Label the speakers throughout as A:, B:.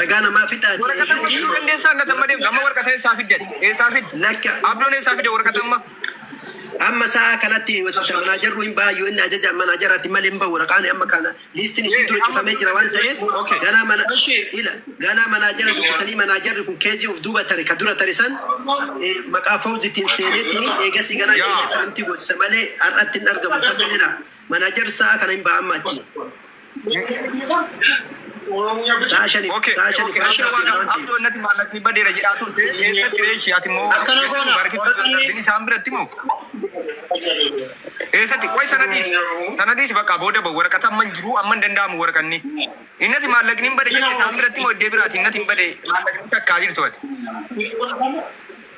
A: Ragaa namaa fixaati. Waraqata amma fiduu dandeessaa
B: annata amma deemtu amma waraqata eessaa fidde eessaa fidde Lakka abdoon eessaa
A: fidde waraqata
B: amma amma
A: sa'a kanatti mana jarru hin baayyu inni ajaja mana jaraatti malee hin bahu raqaan amma kana liistiin ishii dura cufamee jira waan ta'eef Okay. ganaa mana Ishee. ila ganaa manaa jara dubbisanii manaa jarri kun keejii of duuba tare ka dura tare san eh, maqaa fawditiin seeneetiin eegasii ganaa Yaa. jedhee karantii gootisa malee har'atti hin argamu tajaajila manaa jarri sa'a kana hin baha amma achi. Sa'a shaniif Okay, sa'a shaniif okay, ishee
B: waan waan ta'eef. abdoo innati maallaqni badeera jedhaa turte eessatti reeshi ati immoo Akkana jechuun goona, baarkii warra turtan kanneen- darbin isaan biratti moo eessatti qoy sana dhiisi sana dhiisi bakka booda ba'u waraqata amma hin jiru amma hin danda'amu waraqanni innati maallaqni hin bade jedhe isaan biratti moo iddee biraati innati hin bade maallaqni takkaa jirtu ati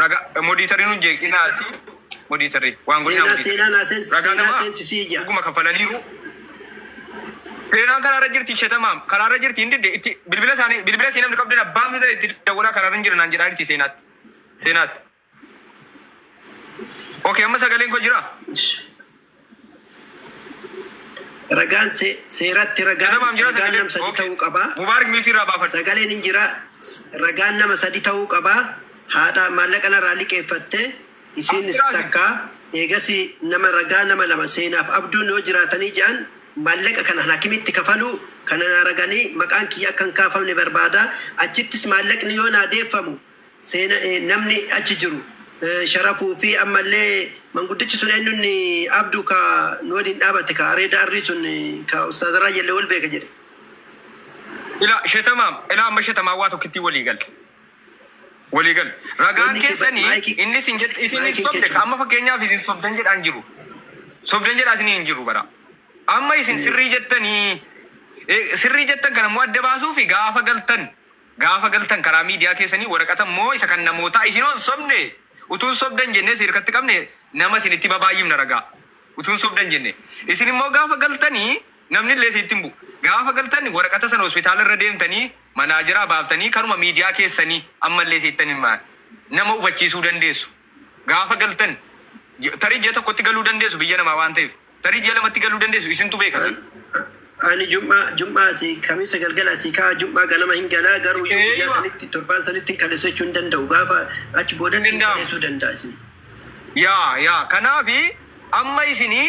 B: Raga moditari nun jeeqsi na moditari waan godhi na seenaa naa seensi ragaa namaa seensi si ija dhuguma kafalaniiru seenaan karaa irra jirti shetamaam karaa irra jirti hin didde itti bilbila isaanii bilbila sii namni qabdan abbaan fida itti dawwalaa karaa irra hin jiran naan jedhaa jirti seenaatti seenaatti okay amma sagaleen koo jira
A: Ragaan se- seeratti ragaan Katabaam jira ragaan sagaleen? nama sadi Okay. ta'uu qaba. Mubaarak miitii irraa baafadhu.
B: Sagaleen hin jira.
A: S- Ragaan nama sadi ta'uu qaba. Haadha maallaqa narraa liqeeffatte isiinis Abdiraasi. takka eegasi nama ragaa nama lama seenaaf abduun yoo jiraatanii jedhan maallaqa kana hakimitti kafalu kana naa raganii maqaan kiyya akka hin kaafamne barbaada. Achittis maallaqni yoo naa deeffamu seena e namni achi jiru sharafuu fi ammallee manguddichi sun eenyu inni abdu ka nu waliin dhaabate ka areeda arrii sun ka ustaaza raayyalle wal beeka jedhe
B: Ila shetamaam ila amma shetamaa waa tokkittii walii gal walii gal ragaan Wanni kee- keessanii maayikii- inni isin jedhe isin hin maayikii sobde kechuudha. amma fakkeenyaaf isin sobdan jedhaa hin jiru sobdan jedhaa isin hin jiru bara amma isin sirrii jettanii eh, sirrii jettan kana immoo adda baasuu fi gaafa galtan Gaafa galtan karaa miidiyaa keessanii waraqata immoo isa kan namootaa isin hoo hin sobne? Utuu hin sobdan jennee isin hirkatti qabne nama isinitti babaayyifna ragaa. Utuu hin sobdan jennee. Isin immoo gaafa galtani namni illee isinitti hin bu'u. Gaafa galtan waraqata sana hospitaala irra deemtanii manaajeraa baaftanii kanuma miidiyaa keessanii amma illee isinitti hin himan. Nama hubachiisuu dandeessu. Gaafa galtan tarii ji'a tokkotti galuu dandeessu biyya namaa waan ta'eef. Tarii ji'a lamatti galuu dandeessu isintu beeka san. Ani jum'aa
A: jum'aa asii kamisa galgala asii ka'a jum'aa ganama hin galaa garuu yoo guyyaa sanitti torbaan sanitti hin kaleessu jechuun hin danda'u gaafa achi boodatti hin kaleessuu danda'a isin. Yaa
B: yaa kanaafi amma isinii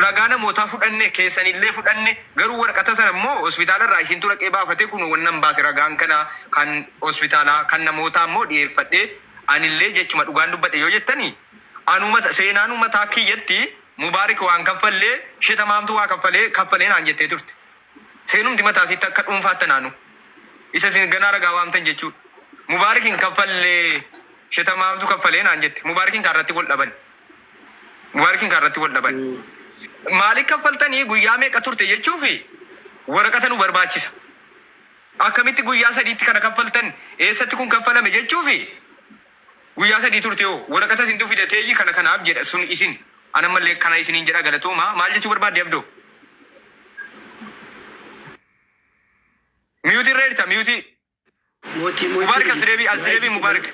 B: ragaa namootaa fudhanne keessanillee fudhanne garuu warqata sana immoo hospitaala irraa ishintu dhaqee baafatee kun wannan baase ragaan kana kan hospitaalaa kan namootaa immoo dhiyeeffadhee Anillee jechuma dhugaan dubbadhe yoo jettani anuma ta, seenaanuu mataa kiyyatti Mubaarik waan kaffalle she Tamaamtu waa kaffale kaffale naan jettee turte. Seenumti mataa isiitti akka dhuunfaatti anaanuu. Isa isin ganaa ragaa waamtan jechuu. Mubaarik hin kaffalle she Tamaamtu kaffale naan jette. Mubaarikin kaa irratti wal dhabani. Mubaarikin kaa irratti wal dhabani. Maaliif kaffaltanii guyyaa meeqa turte jechuufi waraqata nu barbaachisa. Akkamitti guyyaa sadiitti kana kaffaltan? Eessatti kun kaffalame jechuufi? Guyyaa sadii turte hoo? Waraqata isintu fida teeyyi kana kanaaf jedha sun isin. An ammallee kana isiniin jedha galatoomaa. Maal jechuu barbaadde Abdoo? Mute irra jirta mute. Mootii Mubaarik as mootii deebi as deebi Mubaarik.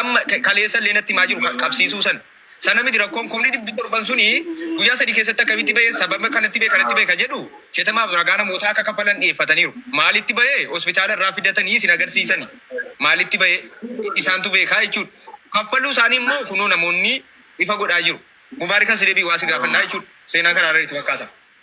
B: Amma ka- kaleessa illee natti himaa jiru ka- qabsiisuu san. Sana miti rakkoon kumni dhibbi torban suni guyyaa sadii keessatti akkamitti bahee sababa kanatti bahe kanatti bahe ka jedhu shetamaaf ragaa namootaa akka kaffalan dhiyeeffataniiru. Maalitti bahee hospitaala irraa fidatanii isin agarsiisani. Maalitti bahee isaantu beekaa jechuudha. Kaffaluu isaanii immoo kunoo namoonni ifa godhaa jiru. Mubaarikan si deebii waa si gaafannaa jechuudha. Seenaa karaa irratti fakkaata.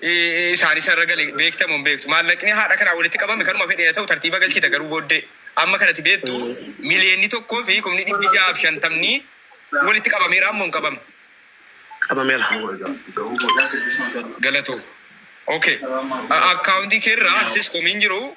B: isaanii isa irra gale beekta moo hin beektu? Maallaqni haadha kanaa walitti qabame kanuma fedhe haa ta'u tartiiba galchita garuu booddee amma kanati beektu miliyoonni tokkoo fi kumni dhibbi ja'a fi shantamni walitti qabameera ammoo hin qabamne. Qabameera. Galatoo. Okay. Akkaawuntii keerraa aksis komiin jiru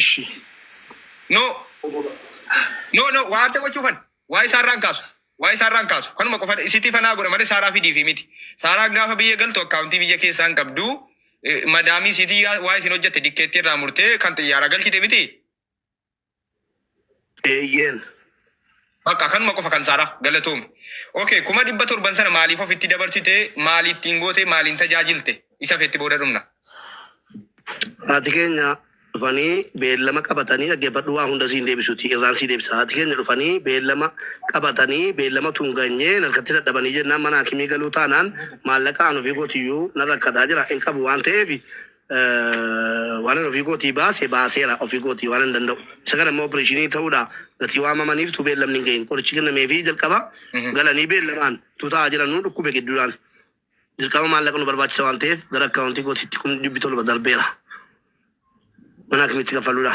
B: Ishi. No No no waa adda gochuu kan waa isaa irraan kaasu waa isaa irraan kaasu kanuma qofa isiti fanaa godha malee saaraa fidii fi miti saaraan gaafa biyya galtu akkaawuntii biyya keessaa hin qabdu eh, madaamii isitii yaa- waa isin hojjette dikkeetti irraa murtee kan xiyyaara galchite miti
C: Eeyyeen. Bakka
B: kanuma qofa kan saaraa galatoomi. Okay kuma dhibba torban sana maaliif ofitti dabarsite maali ittiin goote maaliin tajaajilte isa feetti booda dhumna.
C: Haati keenya dhufanii beellama qabatanii dhaggeeffadhu waa hunda siin deebisuti irraan sii deebisa haati keenya dhufanii beellama qabatanii beellama tun ganyee narkatti dadhabanii jennaan mana hakimii galuu taanaan maallaqa an ofii kootiyyuu nan rakkataa jira hin qabu waan ta'eef waanan ofii kootii baase baaseera ofii kootii waanan danda'u. Isa kana immoo opereeshinii ta'uudha gatii waamamaniif tuu beellamni hin gahin qorichi kennamee fi jalqaba galanii beellamaan tuu taa'aa jiran nu dhukkube gidduudhaan dirqama maallaqa nu barbaachisa waan ta'eef gara akkaawuntii kootiitti kun dhibbi tolba darbeera. Mana akkamitti kaffaluudha?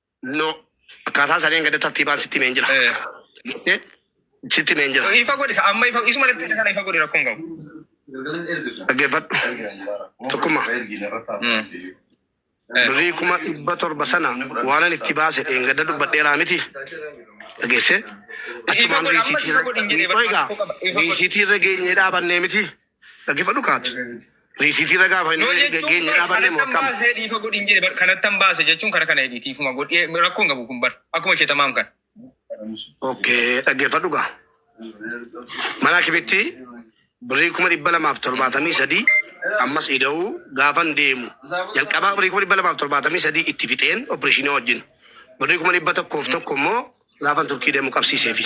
B: No.
C: Akkaataa saniin gadi tartiibaan sitti himeen jira. Eh. Jettee
B: sitti himeen jira.
C: Ifa
B: godhi ka amma ifa isuma
C: irratti
B: kana ifa godhi rakkoo hin qabu.
C: Dhaggeeffadhu. Tokkummaa. Mm. Eh. Birrii kuma dhibba torba sana waanan itti baase dheengadda dubbadheeraa miti. Dhageessee? Achumaan Ifa godhi, amma ifa godhi hin jedhee, Qoy egaa, rakkoo qaba. Ifa godhi. riisiitii irra geenyee dhaabannee miti. Dhaggeeffadhu kaati. Riisiitii irra gaafa Yoo inni jechuun geenye bar dhaabanne kanattan mo'atam. baasee dhiifa godhin jedhe bar
B: kanattan baase jechuun kana kana jedhi dhiifuma godhi Eh, rakkoon qabu kun bar akkuma ishee tamaam kan. Okkee
C: dhaggeeffadhu gaa. Mana kibitti birrii kuma dhibba lamaaf torbaatamii sadii ammas ida'uu gaafan deemu. Jalqabaa birrii kuma dhibba lamaaf torbaatamii sadii itti fixeen opereeshinii wajjin. Birrii kuma dhibba tokkoof tokko immoo gaafan turkii deemu qabsiiseefi.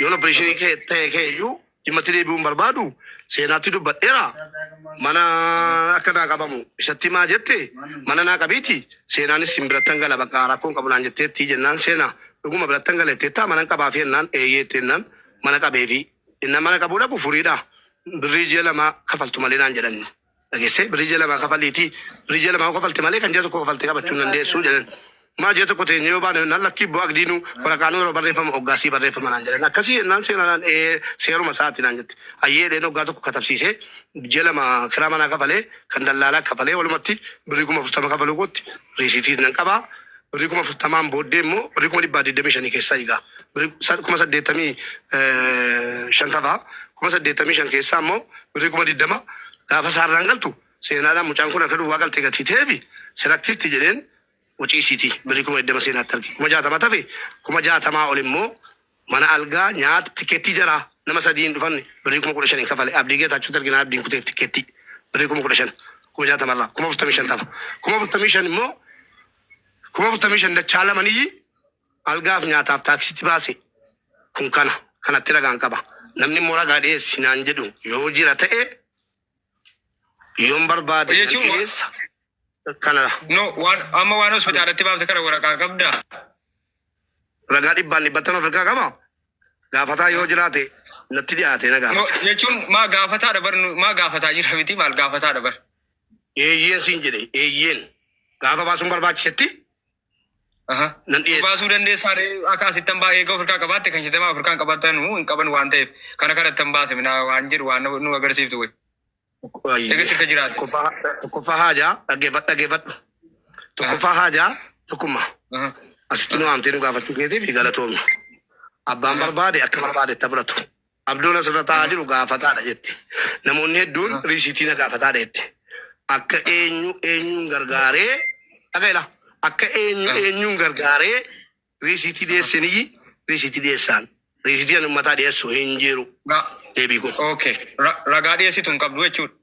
C: Yoon opereeshinii kee ta'e kee iyyuu dhimmatti deebi'uun barbaadu seenaatti dubbadheera. Mana akka naa qabamu isatti maa jette mana naa qabiiti seenaanis sin birattan gala bakka rakkoon qabu naan jetteetti jennaan seena dhuguma birattan gala jetteetta manan qabaafi jennaan eeyyee itti jennaan mana qabeefi innaan mana qabuu dhaqu furiidha birrii ji'a lamaa kafaltu malee naan jedhanne. dhagesse birri ji'a lamaa kafaliiti birri ji'a lamaa yoo kafalte malee kan ji'a tokko kafalte qabachuu hin dandeessu jedhan maa ji'a tokko teenye yoo baane nan lakkii boo agdiinu waraqaanuu yeroo barreeffama oggaasii barreeffama naan jedhan akkasii jennaan seenanaan ee seeruma isaati naan jette ayyee dheen oggaa tokko katabsiisee ji'a lama kiraa manaa kafalee kan dallaalaa kafalee walumatti birri kuma afurtama kafaluu kootti riisiitii nan qabaa Birrii kuma afurtamaan booddee immoo birrii kuma dhibbaa digdamii shanii keessaa egaa birrii sa- kuma saddeettamii eh, shan tafa kuma saddeettamii shan keessaa immoo birrii kuma digdama gaafa saarraan galtu seenaadhaan mucaan kun harka duwwaa galtee gatii ta'eefi sirakkiifti jedheen wacii isiiti birrii kuma digdama seenaatti arge kuma jaatama tafe kuma jaatamaa ol immoo Mana algaa, nyaata, tikkeettii jaraa nama sadii hin dhufanne birrii kuma kudha shaniin kafale. Abdii Geetaachotti erginaan abdiin kuteef tikkeettii birrii kuma kudha shan kuma jaatama irraa kuma afurtamii shan tafa. Kuma afurtamii shan immoo kuma afurtamii shan dachaa lama niyyi algaaf nyaataaf taaksiitti baase. Kun kana kanatti ragaan qaba. Namni immoo ragaa dhiyeessi naan jedhu yoo jira ta'e Yoon barbaade Hojii jechuun waan- dhiyeessa. Kana No, waan,
B: amma waan hospitaalatti baafte kana waraqaa qabda.
C: ragaa dhibbaan dhibbattan of irkaa qaba. Gaafataa yoo jiraate natti dhiyaate na No, gaafata. jechuun maa
B: gaafataadha bar nu- maa gaafataa jira miti maal gaafataadha bar. Eeyyeen
C: siin jedhe eeyyeen. Gaafa baasuun barbaachisetti Aha. Nan Nu dhiyeessa. baasuu dandeessaa ree
B: akka asittan baa eega ofirkaa qabaatte kan shitamaa ofirkaan qabatanu hin qaban waan ta'eef kana kana ittan baase minaa waan jedhu waan nu nu agarsiiftu wayi. Ayyo. Eega sirka jiraate. Tokkoffaa
C: tokkoffaa haajaa dhaggeeffadhu dhaggeeffadhu. Tokkoffaa haajaa tokkummaa. Aha. Asitti nu waamtee nu gaafachuu keetiif galatoomna. Abbaan barbaade akka barbaade itti fudhatu. Abdoon asirra taa'aa jiru gaafataadha jette. Namoonni hedduun riisiitii na gaafataadha jette. Akka eenyu eenyuun gargaaree dhaga'e laa akka eenyu eenyuun gargaaree riisiitii dhiyeessiniyyi riisiitii dhiyeessaan riisiitii ani ummataa dhiyeessu hin jiru deebii koo.
B: Okay. Ra- Ragaa dhiyeessitu hin qabdu jechuudha.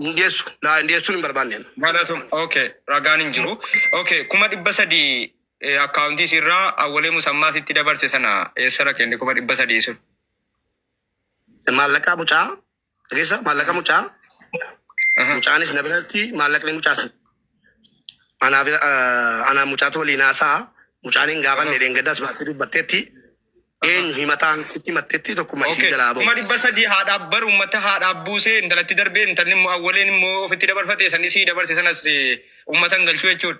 B: Hin dhiyeessu.
C: Naa hin dhiyeessuun hin barbaanne. Galatom okay
B: ragaan hin jiru. Okay kuma dhibba sadii eh, akkaawuntii sirraa awwalee musammaa sitti dabarse sana eessara kenne kuma dhibba sadii sun. Maallaqaa
C: mucaa. Dhageessa maallaqaa mucaa. Aha. Mucaanis na biratti maallaqni mucaa sun. Anaa fi ah, anaa mucaatu waliin haasa'a. Mucaan hin gaafanne dheengaddas baatee dubbatteetti. Eenyu himataan sitti himatteetti tokkummaa isin Okay. jalaa bahu. Kuma dhibba sadii haadhaaf
B: baru uummata haadhaaf buusee intalatti darbee intalli immoo awwaleen immoo ofitti dabarfate san isii dabarse sanas eh, uummata hin galchuu jechuudha.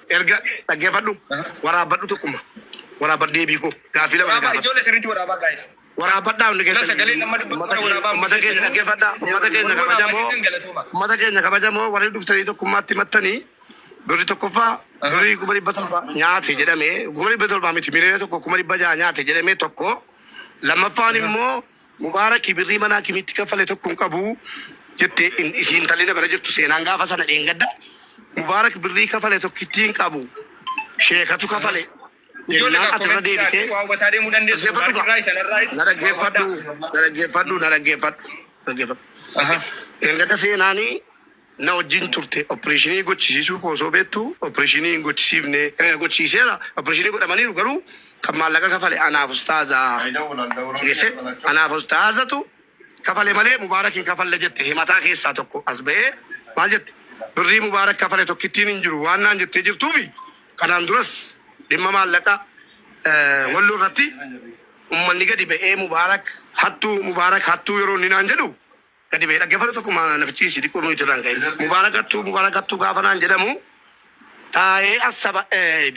C: Erga dhaggeeffadhu waraabbadhu tokkuma waraabadhu deebii koo gaaffii lama Waraabaa gaafadhu. ijoollee sirriitti waraabaa
B: gaa'ela. Waraabbadhaa hundi
C: Yoo keessan sagalee nama dubbatu ummata kana keenya-
B: waraabaa ummata keenya dhaggeeffadhaa
C: ummata keenya Warri waraabaa kabajamoo keessan galatooma. ummata keenya kabajamoo warri dhuftanii tokkummaatti mattanii birri tokkoffaa birri kuma dhibba torba nyaate jedhame kuma dhibba torba miti miliyoona tokko kuma dhibba jaha nyaate jedhame tokko lammaffaan immoo Mubaaraki birrii mana hakimiitti kaffale tokko hin qabu jette in isii intalli na bira jirtu seenaan gaafa sana dheengadda Mubaarak birrii kafale tokkittii hin qabu sheekatu kafale Ijoollee jennaan kaa ati irra komentii deebitee irraatti waa hubataa deemuu dandeessu. dhaggeeffadhu Mubaarki kaa irraa isan irraa na waa dhaggeeffadhu hubadhaa. na dhaggeeffadhu na dhaggeeffadhu dhaggeeffadhu Aha. dheengadda seenaanii Na wajjin turte. Oppireeshinii gochisiisuu koo osoo beektu oppireeshinii hin gochisiifne. Gochisiiseera. Oppireeshinii godhamaniiru garuu kan maallaqa kafale anaaf ustaaza. Dhageesse? Anaaf ustaazatu kafale malee Mubaarak hin kafalle jette. Himataa keessaa tokko as ba'ee maal jette? Birrii Mubaarak kafale tokkittiin hin jiru waan naan jettee jirtuufi kanaan duras dhimma maallaqa Walloo irratti ummanni gadi ba'ee Mubaarak hattuu, Mubaarak hattuu yeroo inni naan jedhu, Gadi ba'e dhaggeeffadhu tokkuma na fichiisi xiqqoo nuyi irraan ka'e. Mubaarakattuu mubaarakattuu gaafa naan jedhamu taa'ee assaba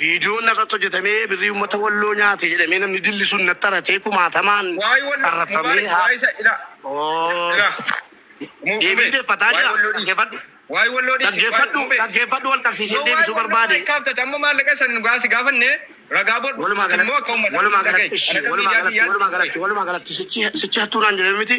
C: viidiyoon narratti hojjetamee birrii uummata walloo nyaate jedhamee namni dilli sun natti haratee kumaatamaan arrafamee haa. Deebii deeffataa jira dhaggeeffadhu. Dhaggeeffadhu dhaggeeffadhu wal qabsiisee deebisuu barbaade. Amma maallaqa san
B: gaasi gaafanne ragaa bodhu Walumaa galatti walumaa galatti ishii walumaa
C: galatti walumaa galatti walumaa galatti sichi sichi hattuu naan jedhame miti.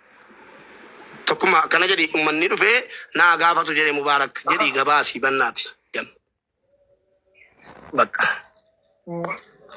C: Tokkummaa akkana jedhi ummanni dhufee naa gaafatu jedhe Mubaarak jedhi gabaasi bannaati. Jam. Bakka.